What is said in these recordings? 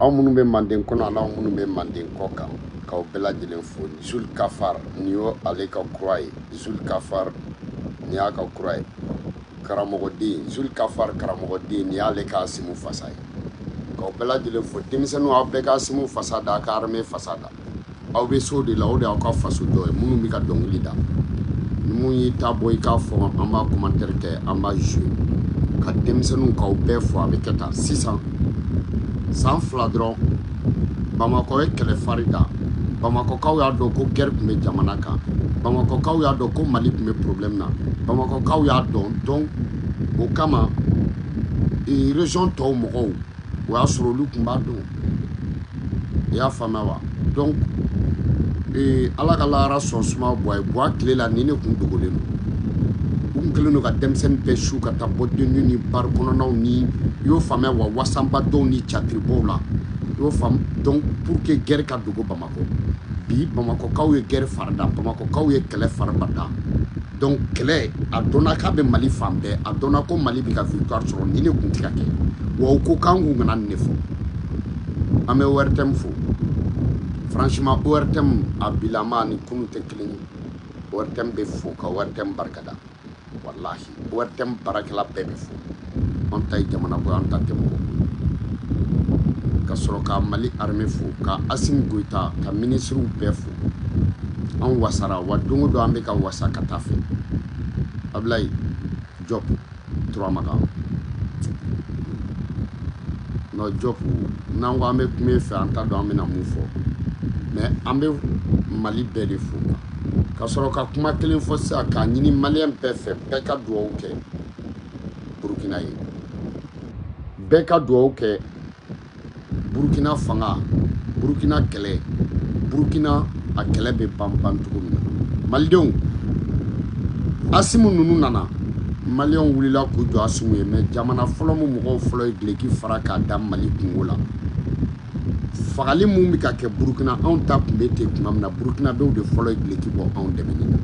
aw minnu bɛ manden kɔnɔ ani aw minnu bɛ manden kɔ kan k'aw bɛɛ lajɛlen fo zul kafar nin y'o ale ka kura ye zul kafar nin y'a ka kura ye karamɔgɔden zul kafar karamɔgɔden nin y'ale ka asimu fasa ye k'aw bɛɛ lajɛlen fo denmisɛnninw aw bɛɛ ka asimu fasa da a ka armée fasa da aw bɛ so de la o de y'aw ka faso jɔ ye minnu bɛ ka dɔnkili da ni min y'i ta bɔ i k'a fɔ an b'a commentaire kɛ an b'a jouer ka denmisɛnninw k'aw bɛɛ fo a bɛ kɛ tan sisan san fila dɔrɔn bamakɔ ye kɛlɛ fari da bamakɔkaw y'a dɔn ko guerre tun bɛ jamana kan bamakɔkaw y'a dɔn ko mali tun bɛ problème na bamakɔkaw y'a dɔn donc o kama région tɔw mɔgɔw o y'a sɔrɔ olu tun b'a dɔn i y'a faamuya wa donc ee, ala ka lahara so suma buwa ye buwa tile la nin de kun dogolen don u tun kɛlen don ka denmisɛnnin bɛɛ su ka taa boîte de nuit ni bar kɔnɔnaw ni i y'o faamuya wa wasanba dɔnw ni catiribɔw la i y'o faamu donc pour que guerre ka dogo bamakɔ bi bamakɔkaw ye guerre fari da bamakɔkaw ye kɛlɛ fariba da donc kɛlɛ a dɔnna k'a bɛ mali fan bɛɛ a dɔnna ko mali bɛ ka victoire sɔrɔ nin de kun tɛ ka kɛ wa u ko k'an kun kana nin de fɔ an bɛ ortm fo franchement ortm a bilama ni kunu tɛ kelen ye ortm bɛ fo ka ortm barika da walahi ortm baarakɛla bɛɛ bɛ fo an ta ye jamana ko an ta tɛ mɔgɔ ka sɔrɔ ka mali armée fo ka asimi goyita ka minisiriw bɛɛ fo an wasara wa don o don an bɛ ka wasa ka taa fɛ abilayi jɔp turamakan nɔ jɔp n'an ko an bɛ kuma e fɛ an t'a dɔn an bɛna mun fɔ mais an bɛ mali bɛɛ de fo ka sɔrɔ ka kuma kelen fɔ sisan k'a ɲini maliyɛn bɛɛ fɛ bɛɛ ka dugawu kɛ burukina ye bɛɛ ka dugawu kɛ burukina fanga burukina kɛlɛ burukina a kɛlɛ bɛ ban ban cogo min na malidenw asimu ninnu nana maliyɛnw wulila k'u jɔ asimu ye mais jamana fɔlɔ min mɔgɔw fɔlɔ ye duloki fara k'a da mali kunko la fagali min bɛ ka kɛ burukina anw ta tun bɛ ten tuma min na burukinabew de fɔlɔ ye duloki bɔ anw dɛmɛni na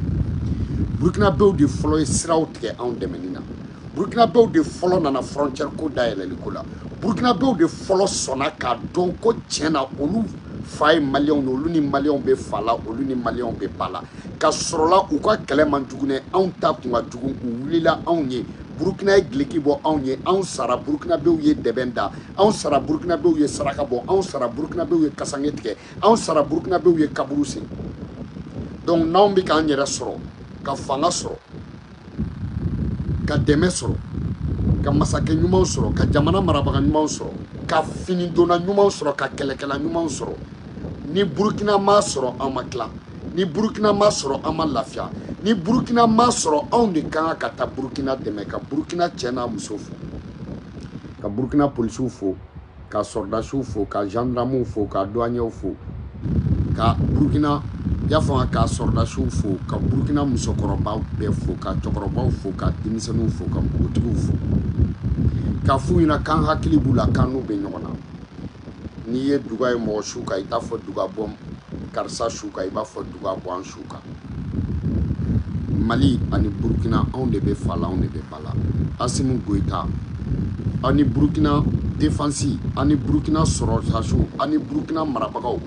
burukinabew de fɔlɔ ye siraw tigɛ anw dɛmɛni na burukinabew de fɔlɔ nana frontière ko dayɛlɛli ko la burukinabew de fɔlɔ sɔnna k'a dɔn ko tiɲɛ na olu fa ye maliyɛnw de olu ni maliyɛnw bɛ fa la olu ni maliyɛnw bɛ ba la ka sɔrɔla u ka kɛlɛ man jugu dɛ anw ta tun ka jugu u wulila anw ye burukina ye gileki bɔ anw ye anw sara burukinabew ye dɛbɛn da anw sara burukinabew ye saraka bɔ anw sara burukinabew ye kasange tigɛ anw sara burukinabew ye kaburu sen donc n'anw bɛ k'an yɛrɛ sɔrɔ ka fanga sɔrɔ ka dɛmɛ sɔrɔ ka masakɛ ɲumanw sɔrɔ ka jamana marabaga ɲumanw sɔrɔ ka finidonna ɲumanw sɔrɔ ka kɛlɛkɛla ɲumanw sɔrɔ ni burukina ma sɔrɔ an ma tila ni burukina ma sɔrɔ an ma lafiya ni burukina ma sɔrɔ anw de kan ka taa burukina dɛmɛ ka burukina cɛ n'a muso fo ka burukina polisiw fo ka sɔrɔdasiw fo ka gendarmew fo ka douaniers fo ka burukina ya fanga ka sɔrɔdasiw fo ka burukina musokɔrɔbaw bɛɛ fo ka cɛkɔrɔbaw fo ka denmisɛnninw fo ka npogotigiw fo k'a f'u ɲɛna k'an hakili b'u la k'an n'u bɛ ɲɔgɔn na n'i ye duga ye mɔgɔ su kan i t'a fɔ duga bɔ karisa su kan i b'a fɔ duga bɔ an su kan mali ani burukina anw de bɛ fa la anw de bɛ ba la asimi goyita aw ni burukina defansi aw ni burukina sɔrɔdasiw aw ni burukina marabagaw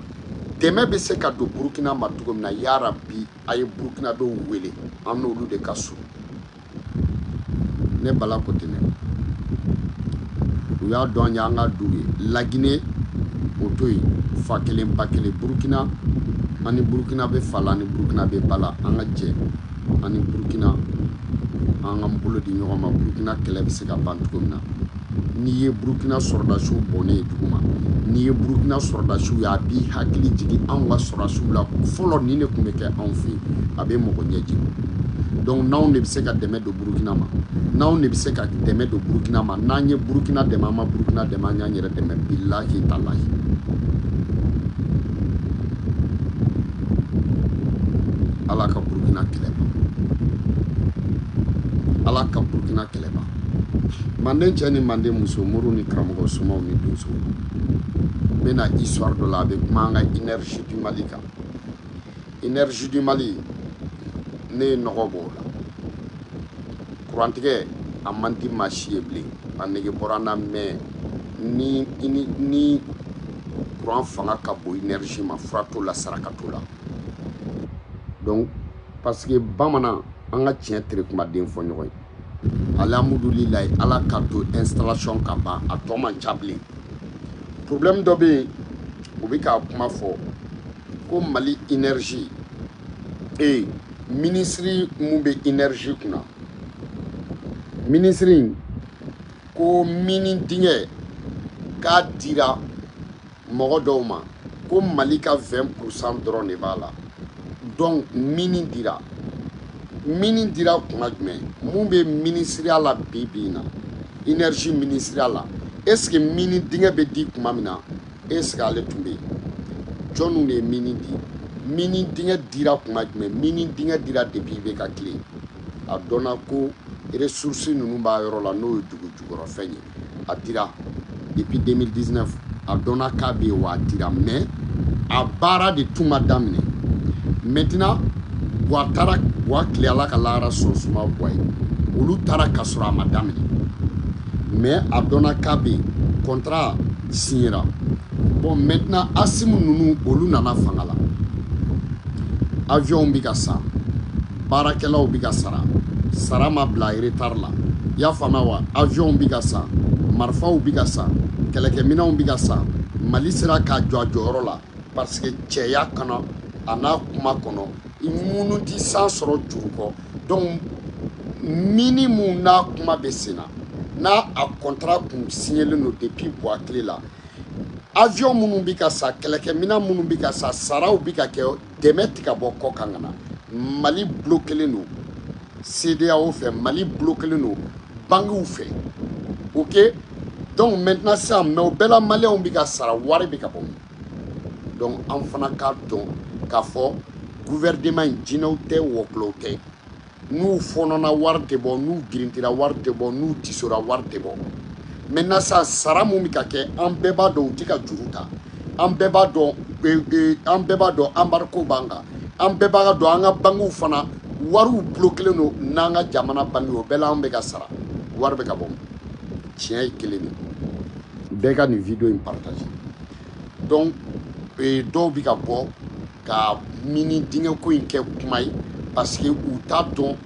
dɛmɛ bɛ se ka don burukina ma cogo min na yarabi a ye burukinabew wele an n'olu de ka surun ne bala kotene u y'a dɔn an y'an ka du ye lagine o to yen fa kelen ba kelen burukina an ni burukina bɛ fa la an ni burukina bɛ ba la an ka jɛ an ni burukina an ka bolo di ɲɔgɔn ma burukina kɛlɛ bɛ se ka ban cogo min na n'i ye burukina sɔrɔdasiw bɔnnen ye dugu ma n'i ye burukina sɔrɔdasiw ye a b'i hakili jigin anw ka sɔrɔdasiw la fɔlɔ nin de tun bɛ kɛ anw fɛ yen a bɛ mɔgɔ ɲɛji jigin donc n'anw de bɛ se ka dɛmɛ don burukina ma n'anw de bɛ se ka dɛmɛ don burukina ma n'an ye burukina dɛmɛ an ma burukina dɛmɛ an y'an yɛrɛ dɛmɛ bilahi talahi ala ka burukina kɛlɛ ban ala ka burukina kɛlɛ ban manden cɛ ni manden muso mori ni karamɔgɔ somaw ni donso n bɛna histoire dɔ la a bɛ kuma an ka énergie du Mali kan énergie du Mali ne ye nɔgɔ bɔ o la kurantigɛ a man di maa si ye bilen a nege bɔra n na mais ni kuran fanga ka bon énergie ma fura t'o la saraka t'o la donc parce que bamanan an ka tiɲɛ tere kumaden fɔ ɲɔgɔn ye alihamudulilayi ala k'a to installation ka ban a tɔ man ca bilen problème dɔ bɛ yen u bɛ k'a kuma fɔ ko mali énergie ee minisiri mun bɛ énergie kunna minisiri in ko mini dingɛ k'a dira mɔgɔ dɔw ma ko mali ka 20 pourcent dɔrɔn de b'a la donc mini dira mini dira kuma jumɛn mun bɛ minisiriya la bi bi na énergie minisiriya la est ce que mini dingɛ bɛ di kuma min na est ce que ale tun bɛ yen jɔnniw de ye mini di mini dingɛ dira kuma jumɛn mini dingɛ dira depuis IBK tile a dɔnna ko ressource ninnu b'a yɔrɔ la n'o ye dugu jukɔrɔfɛn ye a dira depuis 2019 a dɔnna k'a bɛ yen wa a dira mais a baara de tun ma daminɛ maintenant buwa taara buwa tile ala ka lahara sɔn suma buwa ye olu taara ka sɔrɔ a ma daminɛ mais a dɔnna k'a bɛ yen contrat signera bon maintenant asimi ninnu olu nana fanga la avion bɛ ka san baarakɛlaw bɛ ka sara sara ma bila retard la i y'a faamuya wa avion bɛ ka san marifaw bɛ ka san kɛlɛkɛminɛnw bɛ ka san mali sera k'a jɔ a jɔyɔrɔ la parce que cɛya kana a n'a kuma kɔnɔ i minnu tɛ san sɔrɔ juru kɔ donc mini mun n'a kuma bɛ sen na n'a a kɔntara kun signelen don depuis buwa tile la avion minnu bɛ ka san kɛlɛkɛminɛn minnu bɛ ka san saraw bɛ ka kɛ dɛmɛ tɛ ka bɔ kɔ kan ka na mali bulokelen don sedeyawo fɛ mali bulokelen don bankiw fɛ ok donc maintenant sisan mais o bɛɛ la maliyɛnw bɛ ka sara wari bɛ ka bɔ min donc an fana k'a dɔn k'a fɔ guvɛrɛneman in jinɛw tɛ wɔkulɔw tɛ n'u fɔnɔna wari tɛ bɔ n'u girintira wari tɛ bɔ n'u tisora wari tɛ bɔ maintenant sisan sara mun bɛ ka kɛ an bɛɛ b'a dɔn u tɛ ka juru ta an bɛɛ b'a dɔn an bɛɛ b'a dɔn embargo b'an kan an bɛɛ b'a dɔn an ka bankiw fana wariw bulokelen don n'an ka jamana banki o bɛɛ la an bɛ ka sara wari bɛ ka bɔ tiɲɛ ye kelen de bɛɛ ka nin video in partage donc dɔw bɛ ka bɔ ka mini dingɛ ko in kɛ kuma ye parce que u t'a dɔn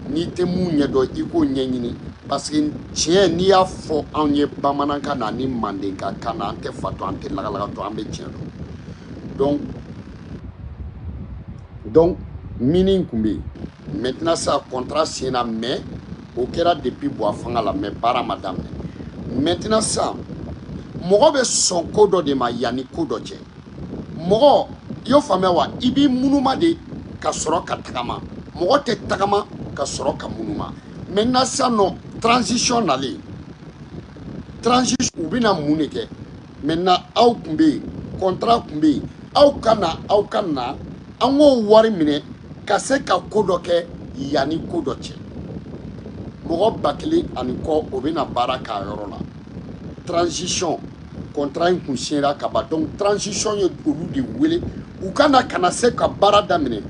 n'i tɛ mun ɲɛdɔn i k'o ɲɛɲini parce que tiɲɛ n'i y'a fɔ anw ye bamanankan na ni mandenka kan na an tɛ fatɔ an tɛ lagalagatɔ an bɛ tiɲɛ dɔn donc donc mini tun bɛ yen maintenant sa contrat signena mais o kɛra depuis buwa fanga la mais baara ma daminɛ maintenant sa mɔgɔ bɛ sɔn ko dɔ de ma yanni ko dɔ cɛ mɔgɔ i y'o faamuya wa i b'i munuma de ka sɔrɔ ka tagama mɔgɔ tɛ tagama ka sɔrɔ ka munuma maintenant sa non transition nalen transition u bɛna mun de kɛ maintenant aw tun bɛ yen contrat tun bɛ yen aw ka na aw ka na an k'o wari minɛ ka se ka ko dɔ kɛ yanni ko dɔ cɛ mɔgɔ ba kelen ani kɔ o bɛna baara k'a yɔrɔ la transition kɔntara in kun siɲɛra ka ban donc transition ye olu de wele u ka na ka na se ka baara daminɛ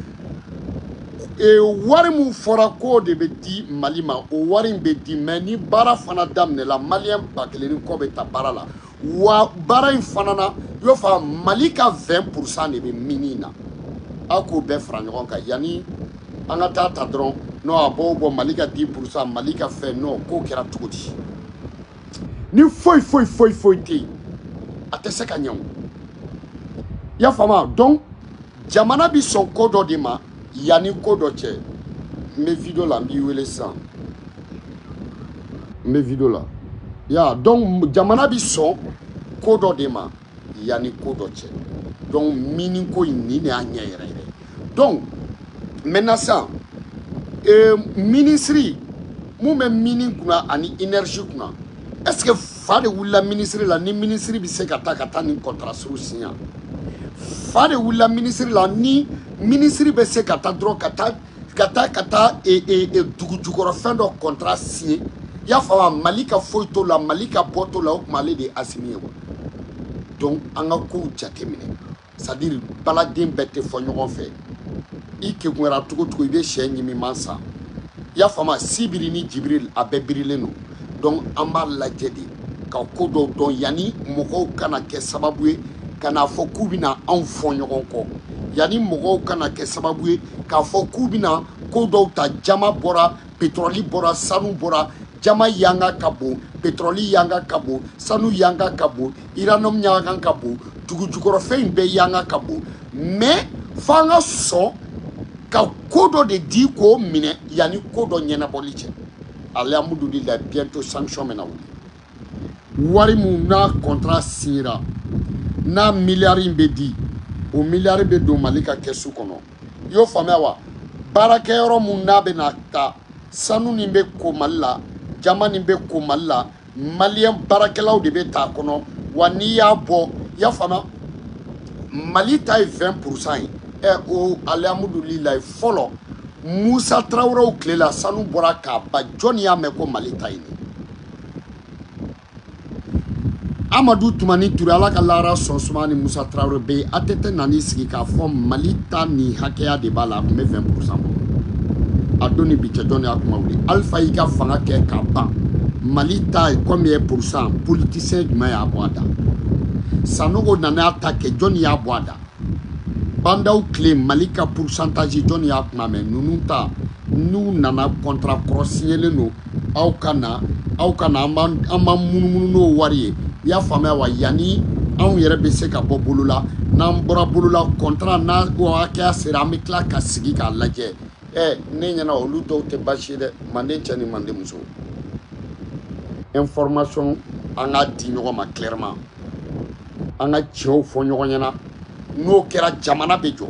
e, wari min fɔra k'o de bɛ di mali ma o wari in bɛ di mais ni baara fana daminɛla maliyɛn ba kelen ni kɔ bɛ ta baara la wa baara in fana na i b'a fɔ mali ka 20 pourcent de bɛ mini in na aw k'o bɛɛ fara ɲɔgɔn kan yanni an ka taa ta dɔrɔn non a b'o bɔ mali ka 10 pourcent mali ka fɛn non k'o kɛra cogo di ni foyi foyi foyi foyi tɛ yen a tɛ se ka ɲɛ o i y'a faamu donc jamana bɛ sɔn ko dɔ de ma yanni ko dɔ cɛ n bɛ video la n b'i wele sisan n bɛ video la ya donc jamana bɛ sɔn ko dɔ de ma yanni ko dɔ cɛ donc mini ko in nin de y'a ɲɛ yɛrɛ yɛrɛ donc maintenant sisan ee minisiri mun bɛ mini kunna ani énergie kunna est ce que fa de wulila minisiri la ni minisiri bɛ se ka taa ka taa nin kɔntara sugu siɲɛ fa de wulila minisiri la ni minisiri bɛ se ka taa dɔrɔn ka taa ka taa ka taa e, e, e, dugujukɔrɔfɛn dɔ kɔntara siɲɛ i y'a faamu wa mali ka foyi t'o la mali ka bɔ t'o la o tuma ale de ye asimi ye wa donc an ka kow jateminɛ c'est à dire baladen bɛɛ tɛ fɔ ɲɔgɔn fɛ i kegunyara cogo o cogo i bɛ sɛ ɲimi man san i y'a faamu sibiri ni jibiri a bɛɛ birilen don donc an b'a lajɛ de ka ko dɔw dɔn yanni mɔgɔw kana kɛ sababu ye ka n'a fɔ k'u bɛna anw fɔ ɲɔgɔn kɔ yanni mɔgɔw kana kɛ sababu ye k'a fɔ k'u bɛna ko dɔw ta jaman bɔra petrɔli bɔra sanu bɔra jaman yanga ka bon petrɔli yanga ka bon sanu yanga ka bon uranium yanga ka bon dugujukɔrɔfɛn in bɛɛ yanga ka bon mais fo an ka sɔn ka ko dɔ de di k'o minɛ yanni ko dɔ ɲɛnabɔli cɛ alihamudulilayi bientôt sanction bɛna wuli wari min n'a kɔntara siɲɛra n'a miliyari in bɛ di o miliyari bɛ don mali ka kɛsu kɔnɔ i y'o faamuya wa baarakɛyɔrɔ min n'a bɛ na ta sanu nin bɛ ko mali la jaman nin bɛ ko mali la maliyɛn baarakɛlaw de bɛ ta a kɔnɔ wa n'i y'a bɔ i y'a faamuya mali ta ye 20 pourcent ye ɛ o alihamudulilayi fɔlɔ musa tarawelew tile la sanu bɔra ka ban jɔnni y'a mɛn ko mali ta ye nin amadu tumani ture ala k'a laharaso suma ni musa tarawele bɛ yen atete nan'i sigi k'a fɔ mali ta nin hakɛya de b'a la a tun bɛ 20 pourcent bɔ a don ni bi cɛ jɔnni y'a kuma wuli alifa y'i ka fanga kɛ ka ban mali ta combien pourcent politisiyɛn jumɛn y'a bɔ a da sanogo nana a ta kɛ jɔnni y'a bɔ a da ba ndaw tile mali ka purusantazi jɔnni y'a kuma mɛn ninnu ta n'u nana contrat kɔrɔ siɲɛlen don aw kana aw kana an b'an munumunu n'o wari ye i y'a faamuya wa yanni anw yɛrɛ bɛ se ka bɔ bolo la n'an bɔra bolo la contrat n'a hakɛya sera an bɛ tila ka sigi k'a lajɛ ɛ ne ɲɛna olu dɔw tɛ baasi ye dɛ manden cɛ ni manden muso information an k'a di ɲɔgɔn ma clairement an ka tiɲɛw fɔ ɲɔgɔn ɲɛna n'o kɛra jamana bɛ jɔ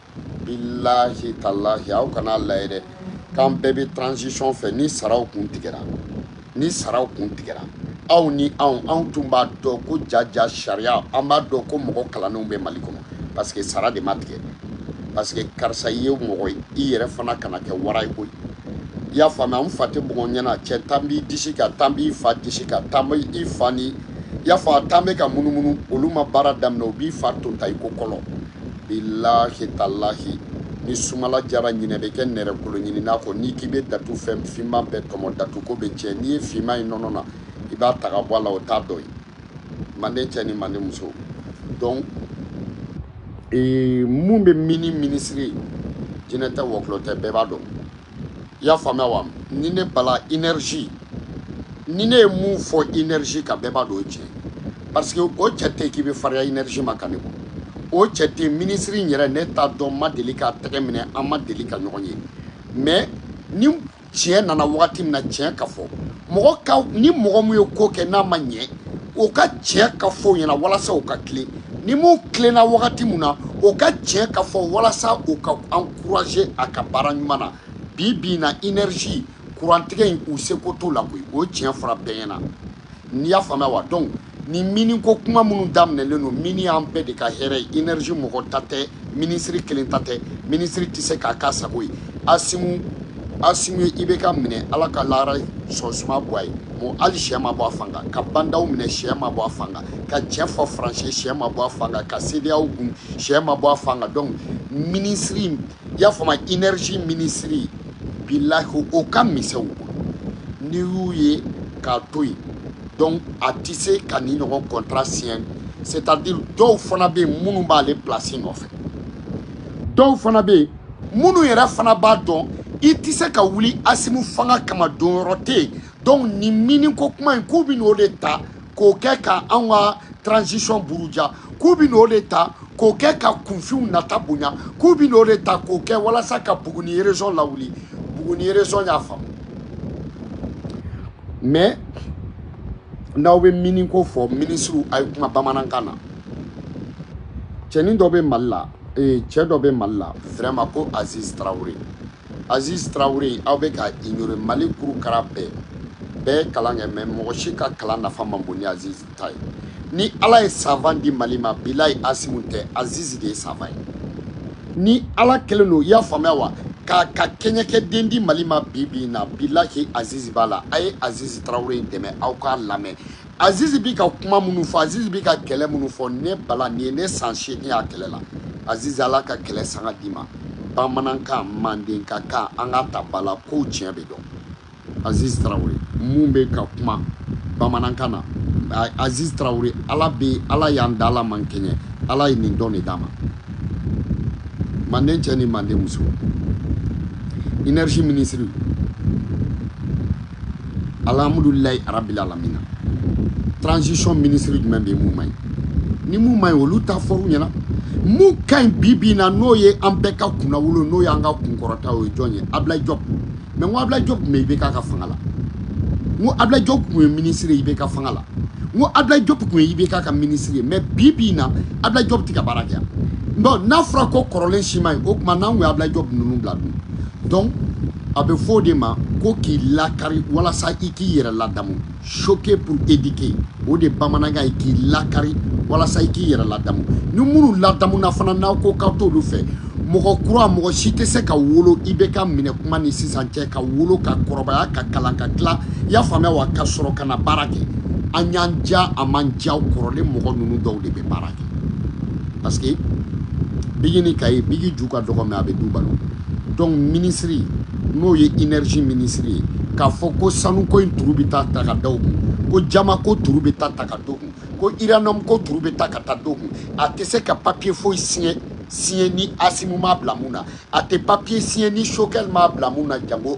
bilahi talahi aw kana layɛ dɛ k'an bɛɛ bɛ transition fɛ ni saraw kun tigɛra ni saraw kun tigɛra aw ni anw anw tun b'a dɔn ko jaja sariya an b'a dɔn ko mɔgɔ kalannenw bɛ mali kɔnɔ parce que sara de ma tigɛ parce que karisa i ye mɔgɔ ye i yɛrɛ fana kana kɛ wara ye koyi i y'a faamuya an fa tɛ mɔgɔ ɲɛna cɛ tan b'i disi kan tan b'i fa disi kan tan bɛ i fa ni i y'a fɔ a tan bɛ ka munumunu olu ma baara daminɛ u b'i fa tonta i ko kɔlɔn bilahi talahi ni sumala jara ɲinɛ bɛ kɛ nɛrɛ kolo ɲinina kɔ n'i k'i bɛ datu fɛn finman bɛɛ tɔmɔ datuko bɛ tiɲɛ n'i ye finman ye nɔnɔ na i b'a ta ka bɔ a la o t'a dɔ ye manden cɛ ni manden muso donc mun bɛ mini minisiri jinɛ tɛ wɔkulɔ tɛ bɛɛ b'a dɔn i y'a faamuya wa ni ne bala énergie ni ne ye mun fɔ énergie kan bɛɛ b'a dɔn o tiɲɛ parce que o cɛ tɛ k'i bɛ fariya énergie ma ka ne bɔ o cɛ tɛ minisiri in yɛrɛ ne t'a dɔn ma deli k'a tɛgɛ minɛ an ma deli ka ɲɔgɔn ye mais ni tiɲɛ nana wagati min na tiɲɛ ka fɔ ni mɔgɔ min ye ko kɛ n'a ma ɲɛ o ka tiɲɛ ka fɔ ɲɛna walasa o ka tilen ni mun tilenna wagati min na o ka tiɲɛ ka fɔ walasa o ka an courager a ka baara ɲuman na bi bi na énergie kurantigɛ in u seko t'o la koyi o tiɲɛ fɔra bɛɛ ɲɛna n'i y'a faamuya wa donc ni mini ko kuma minnu daminɛlen don mini y'an bɛɛ de ka hɛrɛ ye énergie mɔgɔ ta tɛ minisiri kelen ta tɛ minisiri tɛ se k'a k'a sago ye asimu asimu ye ibeka minɛ ala ka lahara sɔn suma bɔ a ye mɔ hali sɛ ma bɔ a fan kan ka ba ndaw minɛ sɛ ma bɔ a fan kan ka tiɲɛ fɔ faransi sɛ ma bɔ a fan kan ka sedeyaw gun sɛ ma bɔ a fan kan donc minisiri i y'a faamu énergie minisiri bilahi o ka misɛn u bolo n'i y'u ye k'a to yen donc a tɛ se ka nin ɲɔgɔn contrat siɲɛ c'est à dire dɔw fana bɛ yen minnu b'ale place nɔfɛ dɔw fana bɛ yen minnu yɛrɛ fana b'a dɔn i tɛ se ka wuli asimu fanga kama donyɔrɔ tɛ yen donc nin miniko kuma in k'u bɛ n'o de ta k'o kɛ ka anw ka transition buruja k'u bɛ n'o de ta k'o kɛ ka kunfinw nata bonya k'u bɛ n'o de ta k'o kɛ walasa ka buguni région lawuli buguni région y'a faamu mais n'aw bɛ miniko fɔ minisiriw a ye kuma bamanankan na cɛnin dɔ bɛ mali la ee cɛ dɔ bɛ mali la vraiment ko aziz tarawele Aziz Traoré aw bɛ ka ignorer Mali kuru kara bɛɛ bɛ kalan kɛ mais mɔgɔ si ka kalan nafa man bon ni Aziz ta ye ni Ala ye savant di Mali ma bilayi Asimu tɛ Aziz de ye savant ye ni Ala kelen don i y'a faamuya wa k'a ka kɛɲɛkɛ den di Mali ma bi bi in na bilahi Aziz b'a la a ye Aziz Traoré dɛmɛ aw k'a lamɛn azizi bi ka kuma minnu fɔ azizi bi ka kɛlɛ minnu fɔ ne b'a la nin ye ne san seegin y'a kɛlɛ la azizi ala ka kɛlɛ sanga d'i ma bamanankan mandenka kan an ka ta bala kow tiɲɛ bɛ dɔn azizi tarawele mun bɛ ka kuma bamanankan na azizi tarawele ala y'an da ala m'an kɛɲɛ ala ye nin don de d'a ma manden cɛ ni manden muso énergie ministre alhamdulilayi arabil alamina transition ministre jumɛn bɛ yen mun man ɲi ni mun man ɲi olu ta fɔr'u ɲɛna mun ka ɲi bi bi in na n'o ye an bɛɛ ka kunnawolo n'o y'an ka kunkɔrɔta o ye jɔn ye ablayi jɔp mais n ko ablayi jɔp tun bɛ ibk ka fanga la n ko ablayi jɔp tun ye ministre ye ibk fanga la n ko ablayi jɔp tun ye ibk ka ministre ye mais bi bi in na ablayi jɔp tɛ ka baara kɛ yan donc n'a fɔra ko kɔrɔlen si man ɲi o tuma n'an tun ye ablayi jɔp ninnu bila dun donc a bɛ fɔ o de ma ko k'i lakari walasa i k'i yɛrɛ ladamu choquer pour éduquer o de bamanankan ye k'i lakari walasa i k'i yɛrɛ ladamu ni minnu ladamuna fana n'aw ko k'aw t'olu fɛ mɔgɔ kura mɔgɔ si tɛ se ka wolo ibk minɛ kuma ni sisan cɛ ka wolo ka kɔrɔbaya ka kalan ka tila i y'a faamuya wa ka sɔrɔ ka na baara kɛ a y'an ja a m'an ja kɔrɔlen mɔgɔ ninnu dɔw de bɛ baara kɛ parce que bigi ni kaye bigi ju ka dɔgɔ mais a bɛ du balo donc minisiri n'o ye inɛrzi minisiri ye k'a fɔ ko sanuko in turu bɛ taa ta ka da o kun ko jaman ko turu bɛ taa ta ka d'o kun ko iraniyɔmu ko turu bɛ ta ka taa d'o kun a tɛ se ka papiye foyi siɲɛ siɲɛ ni asimu m'a bila mun na a tɛ papiye siɲɛ ni sɔgɛli m'a bila mun na jango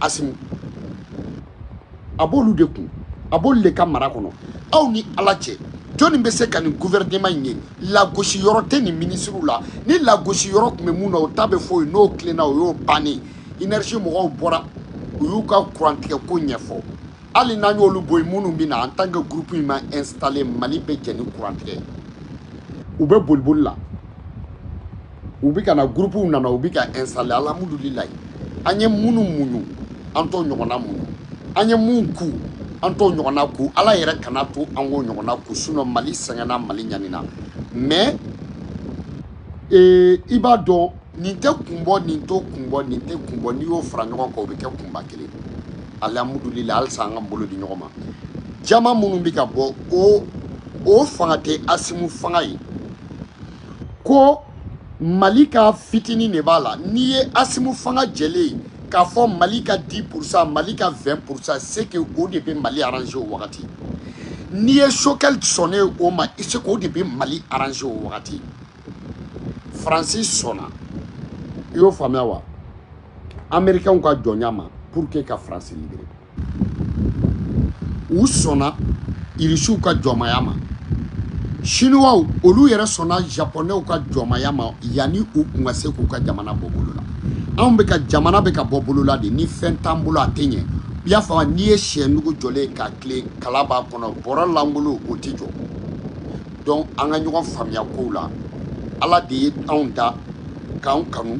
asimu a b'olu de kun a b'olu de ka mara kɔnɔ aw ni ala cɛ jɔnni bɛ se ka nin gouvernement in ye lagosi yɔrɔ tɛ nin minisiriw la ni lagosi yɔrɔ tun bɛ mun na o ta bɛ fɔ yen n'o tilenna o y'o bannen énergie mɔgɔw bɔra u y'u ka kurantigɛ ko ɲɛfɔ hali n'an y'olu bɔ yen minnu bɛ na en tant que groupe in ma installer mali bɛ jɛn ni kurantigɛ ye u bɛ boliboli la u bɛ ka na gurupuw nana u bɛ ka ɛnsitale alihamudulilayi an ye minnu muɲu an t'o ɲɔgɔnna muɲu an ye mun ku an t'o ɲɔgɔnna ku ala yɛrɛ kana to an k'o ɲɔgɔnna ku sinɔn mali sɛgɛnna mali ɲanina mɛ i b'a dɔn nin tɛ kun bɔ nin t'o kun bɔ nin tɛ kun bɔ n'i y'o fara ɲɔgɔn kan o bɛ kɛ kunba kelen alihamudulilayi halisa an ka bolo di ɲɔgɔn ma jama minnu bɛ ka bɔ o fanga tɛ asimu fanga ye ko mali ka fitini de b'a la n'i ye asimu fanga jɛlen ye k'a fɔ mali ka 10 pourcent mali ka 20 pourcent c'est que o de bɛ mali arranger o wagati n'i ye choguel sɔnnen o ma c'est qu'o de bɛ mali arranger o wagati faransi sɔnna i y'o faamuya wa amerikɛnw ka jɔnya ma pour que ka faransi libérer u sɔnna irisiw ka jɔnmaya ma siniwa olu yɛrɛ sɔnna japɔnɛw ka jɔnmaya ma yanni u tun ka se k'u ka jamana bɔ bolola anw bɛ ka jamana bɛ ka bɔ bolola de ni fɛn t'an bolo a tɛ ɲɛ i y'a faamu n'i ye sɛnugu jɔlen ye ka tilen kala b'a kɔnɔ bɔrɔ lankolon o tɛ jɔ donc an ka ɲɔgɔn faamuya kow la ala de ye anw da k'an kanu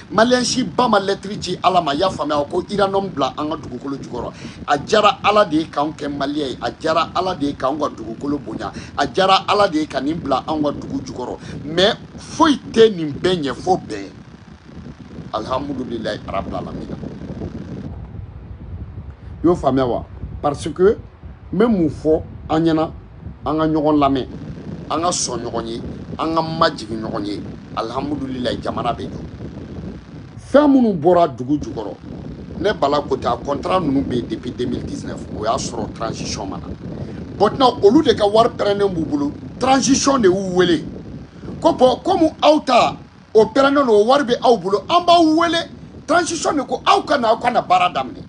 maliyɛn si ba ma lɛtiri ci ala ma y'a faamuya ko uranium bila an ka dugukolo jukɔrɔ a jara ala de ye k'anw kɛ maliyɛn ye a jara ala de ye k'anw ka dugukolo bonya a jara ala de ye ka nin bila anw ka dugu jukɔrɔ mais foyi tɛ nin bɛɛ ɲɛ fo bɛn alihamudulilayi arabil alamina i y'o faamuya wa parce que n bɛ mun fɔ an ɲɛna an ka ɲɔgɔn lamɛn an ka sɔn ɲɔgɔn ye an ka majigin ɲɔgɔn ye alihamudulilayi jamana bɛ jɔ fɛn minnu bɔra dugu jukɔrɔ ne bala kote a contrat ninnu bɛ yen depuis 2019 o y'a sɔrɔ transition ma na maintenant olu de ka wari pɛrɛnnen b'u bolo transition de y'u wele ko bon komi aw ta o pɛrɛnnen don o wari bɛ aw bolo an b'aw wele transition de ko aw ka na aw ka na baara daminɛ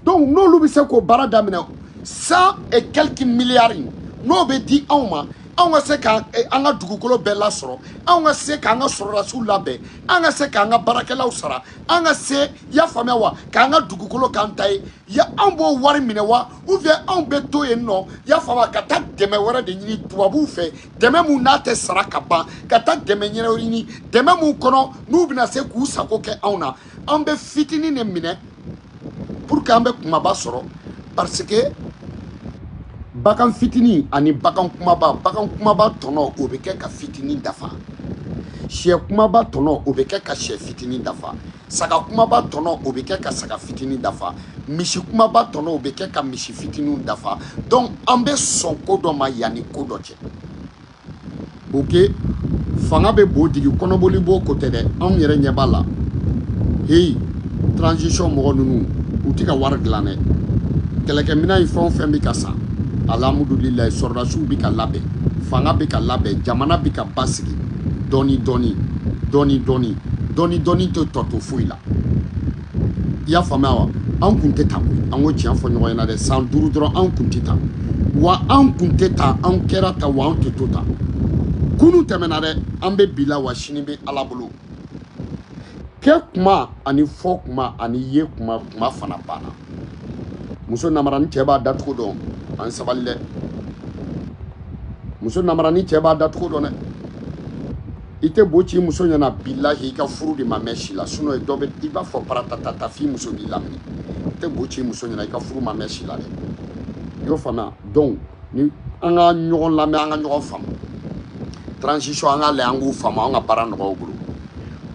donc n'olu bɛ se k'o baara daminɛ cent et quelques milliards in n'o bɛ di anw ma anw ka se ka eh, an ka dugukolo bɛɛ lasɔrɔ anw ka se k'an ka sɔrɔdasiw labɛn an ka se k'an ka baarakɛlaw sara an ka se i y'a faamuya wa k'an ka dugukolo k'an ta ye ya anw b'o wari minɛ wa ou bien anw bɛ to yen nɔ y'a faamu ka taa dɛmɛ wɛrɛ de ɲini tubabuw fɛ dɛmɛ mun n'a tɛ sara ka ban ka taa dɛmɛ ɲɛɲini dɛmɛ mun kɔnɔ n'u bɛna se k'u sago kɛ anw na an bɛ fitinin de minɛ pour que an bɛ kumaba sɔrɔ parce que bagan fitinin ani bagan kumaba bagan kumaba tɔnɔ o bɛ kɛ ka fitinin dafa sɛ kumaba tɔnɔ o bɛ kɛ ka sɛ fitinin dafa saga kumaba tɔnɔ o bɛ kɛ ka saga fitini dafa misi kumaba tɔnɔ o bɛ kɛ ka misi fitiniw dafa donc an bɛ sɔn ko dɔ ma yanni ko dɔ cɛ ok fanga bɛ bo digi kɔnɔboli bo ko tɛ dɛ anw yɛrɛ ɲɛ b'a la heyi transition mɔgɔ ninnu u tɛ ka wari dilan dɛ kɛlɛkɛminɛn in fɛn o fɛn bɛ ka san alihamudulilayi sɔrɔdasiw bɛ ka labɛn fanga bɛ ka labɛn jamana bɛ ka basigi dɔɔni dɔɔni dɔɔni dɔɔni dɔɔni dɔɔni tɛ tɔ to foyi la i y'a faamuya wa an kun tɛ tan koyi an ko tiɲɛ fɔ ɲɔgɔn ɲɛna dɛ san duuru dɔrɔn an kun tɛ tan wa an kun tɛ tan an kɛra tan wa an tɛ to tan kunun tɛmɛna dɛ an bɛ bi la wa sini bɛ ala bolo kɛ kuma ani fɔ kuma ani ye kuma kuma fana banna muso namarani cɛ b'a dacogo dɔn an sabali dɛ muso namarani cɛ b'a dacogo dɔn dɛ i tɛ bo ci muso ɲɛna bilahi i ka furu de ma mɛɛn si la sinon ye dɔ bɛ i b'a fɔ paratatata f'i muso b'i lamini i tɛ bo ci muso ɲɛna i ka furu ma mɛɛn si la dɛ i y'o faamuya donc ni an ka ɲɔgɔn lamɛn an ka ɲɔgɔn faamu transition an ka lajɛ an k'u faamu an ka baara nɔgɔya u bolo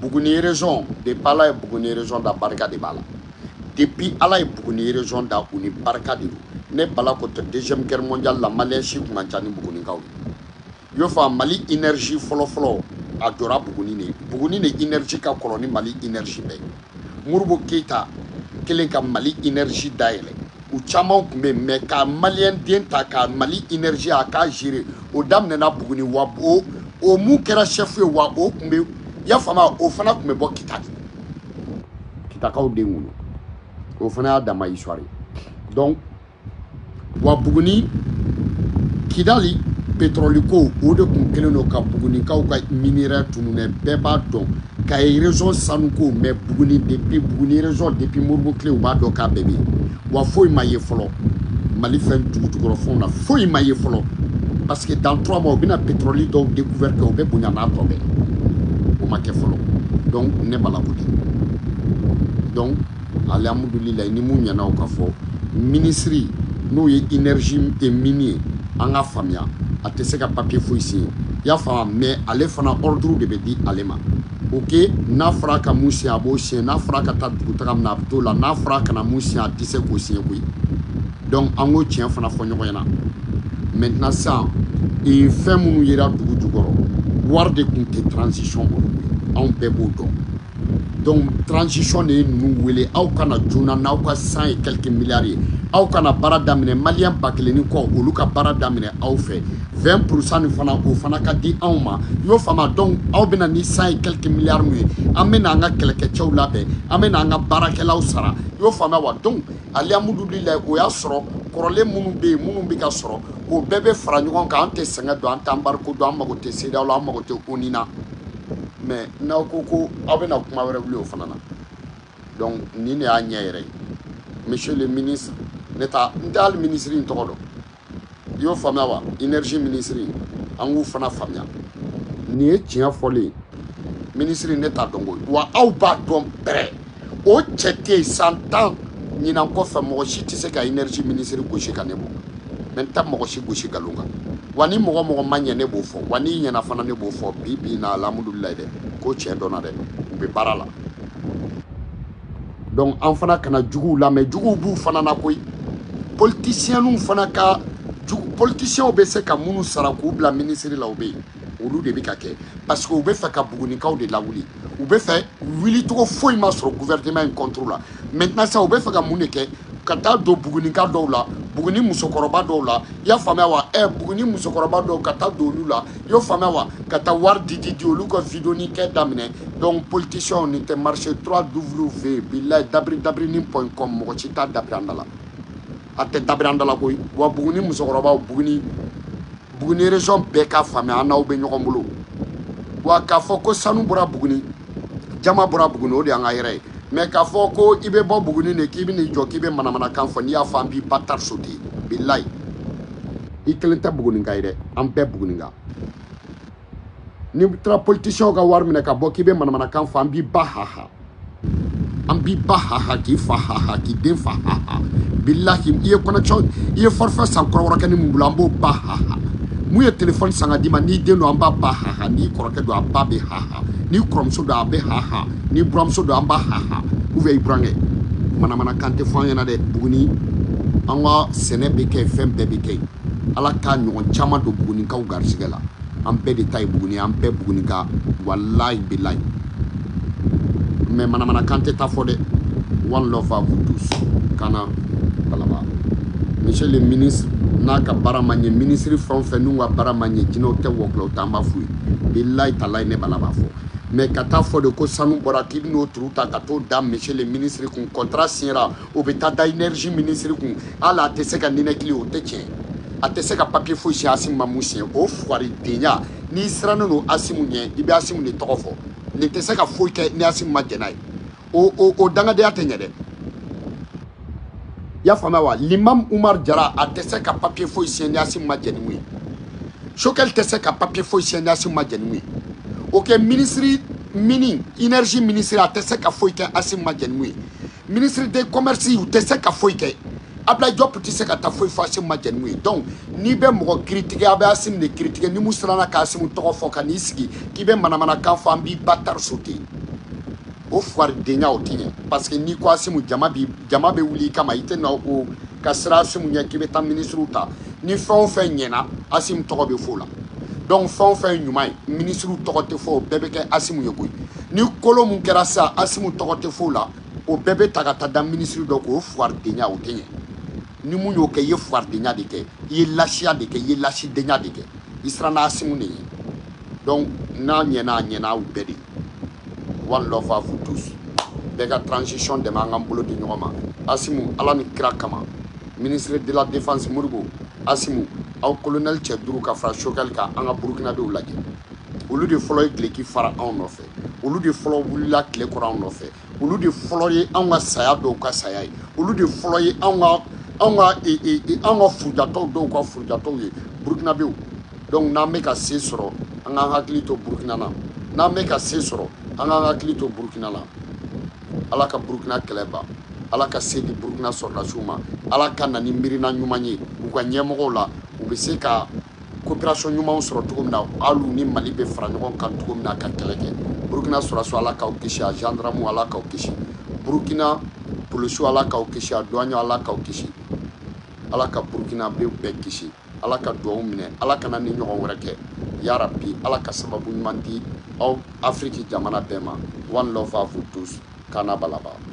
buguni région depuis ala ye buguni région da barika de b'a la depuis ala ye buguni région da u ni barika de don ne bala ko tɛ deuxième guerre mondiale la maliyɛn si kun man ca ni bugunikaw ye i y'o faamu mali énergie fɔlɔfɔlɔ a jɔra buguni de buguni de énergie ka kɔrɔ ni mali énergie bɛɛ modibo keyita kelen ka mali énergie dayɛlɛ u caman tun bɛ yen mais ka maliyɛn den ta ka mali énergie a k'a gérer o daminɛna buguni wa o o mun kɛra chef ye wa o tun bɛ y'a faamuya o fana tun bɛ bɔ kita de kitakaw den wolo o fana y'a dama histoire ye donc wa buguni kidali petrɔli ko o de tun kɛlen don ka bugunikaw ka minerai tununɛ bɛɛ b'a dɔn kayi région sanu ko mais buguni depuis buguni région depuis modibo tile u b'a dɔn k'a bɛɛ bɛ yen wa foyi ma ye fɔlɔ mali fɛn dugujukɔrɔfɛnw na foyi ma ye fɔlɔ parce que dans trois mois u bɛna pétrole dɔw découvert kɛ o bɛ bonya n'a tɔ bɛɛ o ma kɛ fɔlɔ donc ne bala ko di donc Alihamdulilayi ni min ɲɛna o k'a fɔ minisiri n'o ye énergie des mines ye an k'a faamuya a tɛ se ka papiye foyi siɲɛ i y'a faamuya mais ale fana ordre de bɛ di ale ma ok n'a fɔra ka mun siɲɛ a b'o siɲɛ n'a fɔra ka taa dugutaga min na a bɛ t'o la n'a fɔra kana mun siɲɛ a tɛ se k'o siɲɛ koyi donc an ko tiɲɛ fana fɔ ɲɔgɔn ɲɛna maintenant sisan fɛn minnu yera dugu jukɔrɔ wari de tun tɛ transition bolo anw bɛɛ b'o dɔn donc transition de ye ninnu wele aw ka na joona n'aw ka cent et quelques milliards ye aw ka na baara daminɛ maliyɛn ba kelen ni kɔ olu ka baara daminɛ aw fɛ 20 pourcent nin fana o fana ka di anw ma i y'o faamu donc aw bɛna ni cent et quelques milliards min ye an bɛna an ka kɛlɛkɛcɛw labɛn an bɛna an ka baarakɛlaw sara i y'o faamuya wa donc alihamudulilayi o y'a sɔrɔ kɔrɔlen minnu bɛ yen minnu bɛ ka sɔrɔ o bɛɛ bɛ fara ɲɔgɔn kan an tɛ sɛgɛn dɔn an tɛ embargo dɔn an mago tɛ cedeao la an mago tɛ onu na mais n'aw ko ko aw bɛna kuma wɛrɛ wuli o fana na donc nin de y'a ɲɛ yɛrɛ ye monsieur le ministre ne ta n tɛ hali minisiri in tɔgɔ dɔn i y'o faamuya wa énergie minisiri an k'u fana faamuya nin ye tiɲɛ fɔlen ye minisiri ne t'a dɔn koyi wa aw b'a dɔn bɛrɛ o cɛ tɛ yen san tan ɲinan kɔfɛ mɔgɔ si tɛ se ka énergie minisiri gosi ka ne bɔ mais n ta mɔgɔ si gosi nkalon kan wa ni mɔgɔ mɔgɔ ma ɲɛ ne b'o fɔ wa n'i ɲɛna fana ne b'o fɔ bi bi na alhamdulilayi dɛ ko tiɲɛ dɔnna dɛ u bɛ baara la donc an fana kana juguw lamɛn juguw b'u fana na koyi politisiɛnw fana ka jugu politisiɛnw bɛ se ka minnu sara k'u bila minisiri la o bɛ yen olu de bɛ k'a kɛ parce que u bɛ fɛ ka bugunikaw de lawuli u bɛ fɛ wulicogo foyi ma sɔrɔ gouvernement in contre la maintenant sa u bɛ fɛ ka mun de kɛ ka taa don bugunika dɔw la buguni musokɔrɔba dɔw la i y'a faamuya wa ɛ buguni musokɔrɔba dɔw ka taa don olu la i y'o faamuya wa ka taa wari di di di olu ka vidéo nin kɛ daminɛ donc politiciens nin tɛ marcher 3 w bilayi dabiri dabirinin point com mɔgɔ si t'a dabiri an da la a tɛ dabiri an da la koyi wa buguni musokɔrɔbaw buguni buguni région bɛɛ k'a faamuya an n'aw bɛ ɲɔgɔn bolo wa k'a fɔ ko sanu bɔra buguni jaman bɔra buguni o de y'an ka yɛrɛ ye mais k'a fɔ ko i bɛ bɔ buguni de k'i bɛ n'i jɔ k'i bɛ manamanakan fɔ n'i y'a fɔ an b'i bâtard sauter bilayi i kelen tɛ buguninka ye dɛ an bɛɛ buguninka n'i taara politisiɛnw ka wari minɛ ka bɔ k'i bɛ manamanakan fɔ an b'i ba haha an b'i ba haha k'i fa haha k'i den fa haha bilahi i ye connexion i ye forfait san kɔrɔbɔrɔkɛnin mun bolo an b'o ba haha mun ye telefɔni san ka d'i ma n'i den don an b'a ba haha n'i kɔrɔkɛ don a ba bɛ haha n'i kɔrɔmuso don a bɛ haha n'i buranmuso don an b'a haha ou bien i burankɛ manamanakan tɛ fɔ an ɲɛna dɛ buguni an ka sɛnɛ bɛ kɛ yen fɛn bɛɛ bɛ kɛ yen ala k'a ɲɔgɔn caman don bugunikaw garisɛgɛ la an bɛɛ de ta ye buguni an bɛɛ bugunika walayi bilayi mais manamanakan tɛ taa fɔ dɛ one love à vous tous kana balaba monsieur le ministre n'a ka baara ma ɲɛ minisiri fɛn o fɛn n'u ka baara ma ɲɛ jinɛw tɛ wɔkulɔw t'an b'a f'u ye bilayi talayi ne bala b'a fɔ mais ka taa fɔ de ko sanu bɔra k'i bɛn'o turu ta ka t'o da monsieur le ministre kun contrat signera o bɛ taa da énergie ministre kun hali a tɛ se ka ninakili o tɛ tiɲɛ a tɛ se ka papier foyi siɲɛ asimu ma mun siɲɛ o fugaridenya n'i sirannen don asimu ɲɛ i bɛ asimu de tɔgɔ fɔ nin tɛ se ka foyi kɛ ni asimu ma jɛn n'a ye o o o dangadenya tɛ ɲɛ dɛ i y'a faamuya wa limam umar jara a tɛ se ka papier foyi siɲɛ ni asimu ma jɛn ni mun ye choguel tɛ se ka papier foyi siɲɛ ni asimu ma jɛn ni mun ye ok minisiri mini énergie minisiri a tɛ se ka foyi kɛ asimu ma jɛn ni mun ye ministre de commerce u tɛ se ka foyi kɛ abla jɔp tɛ se ka taa foyi fɔ asimu ma jɛ ni mun ye donc n'i bɛ mɔgɔ critiquer a bɛ asimu de critiquer ni mun siranna ka asimu tɔgɔ fɔ ka n'i sigi k'i bɛ manamanakan fɔ an b'i batara sauter o fugaridenya o tɛ ɲɛ parce que n'i ko asimu jama bi jama bɛ wuli i kama i tɛ na o ka siran asimu ɲɛ k'i bɛ taa minisiriw ta ni fɛn o fɛn ɲɛna asimu tɔgɔ bɛ fɔ o la donc fɛn o fɛn ye ɲuman ye minisiriw tɔgɔ tɛ fɔ o bɛɛ bɛ kɛ asimu ye koyi ni kolo mun kɛra sa asimu tɔgɔ tɛ f'o la o bɛɛ bɛ ta ka taa da minisiri dɔ kan o fuwaridenya o tɛ ɲɛ ni mun y'o kɛ i ye fuwaridenya de kɛ i ye lasiya de kɛ i ye lasidenya de kɛ i siranna asimu de ye donc n'a ɲɛna a ɲɛna aw bɛɛ de one love à vous tous bɛɛ ka transition dɛmɛ an k'an bolo di ɲɔgɔn ma asimu ala ni kira kama ministre de la défense modibo asimu aw colonel cɛ duuru ka fara sogɛli kan an ka burukinabew lajɛ olu de fɔlɔ ye dileki fara anw nɔfɛ olu de fɔlɔ wulila tile kɔrɔ anw nɔfɛ olu de fɔlɔ ye anw ka saya dɔw ka saya ye olu de fɔlɔ ye anw ka anw ka e, e, e, anw ka furujatɔw dɔw ka furujatɔw ye burukinabew donc n'an bɛ ka se sɔrɔ an k'an hakili to burukina na n'an bɛ ka se sɔrɔ an k'an hakili to burukina na ala ka burukina kɛlɛ ban ala ka se di burukina sɔrɔdasiw ma ala ka na ni miirina ɲuman ye u ka ɲɛmɔgɔw la u bɛ se ka coopération ɲumanw sɔrɔ cogo min na alu ni mali bɛ fara ɲɔgɔn kan cogo min na ka kɛlɛ kɛ burukina sɔrɔdasiw ala k'aw kisi a gendarmew ala k'aw kisi burukina polisiw ala k'aw kisi a duwaɲɛw ala k'aw kisi ala ka burukinabew bɛɛ kisi ala ka duwawu minɛ ala kana nin ɲɔgɔn wɛrɛ kɛ ya rabi ala ka sababu ɲuman di aw afiriki jamana bɛɛ ma one love à vous tous kana balaba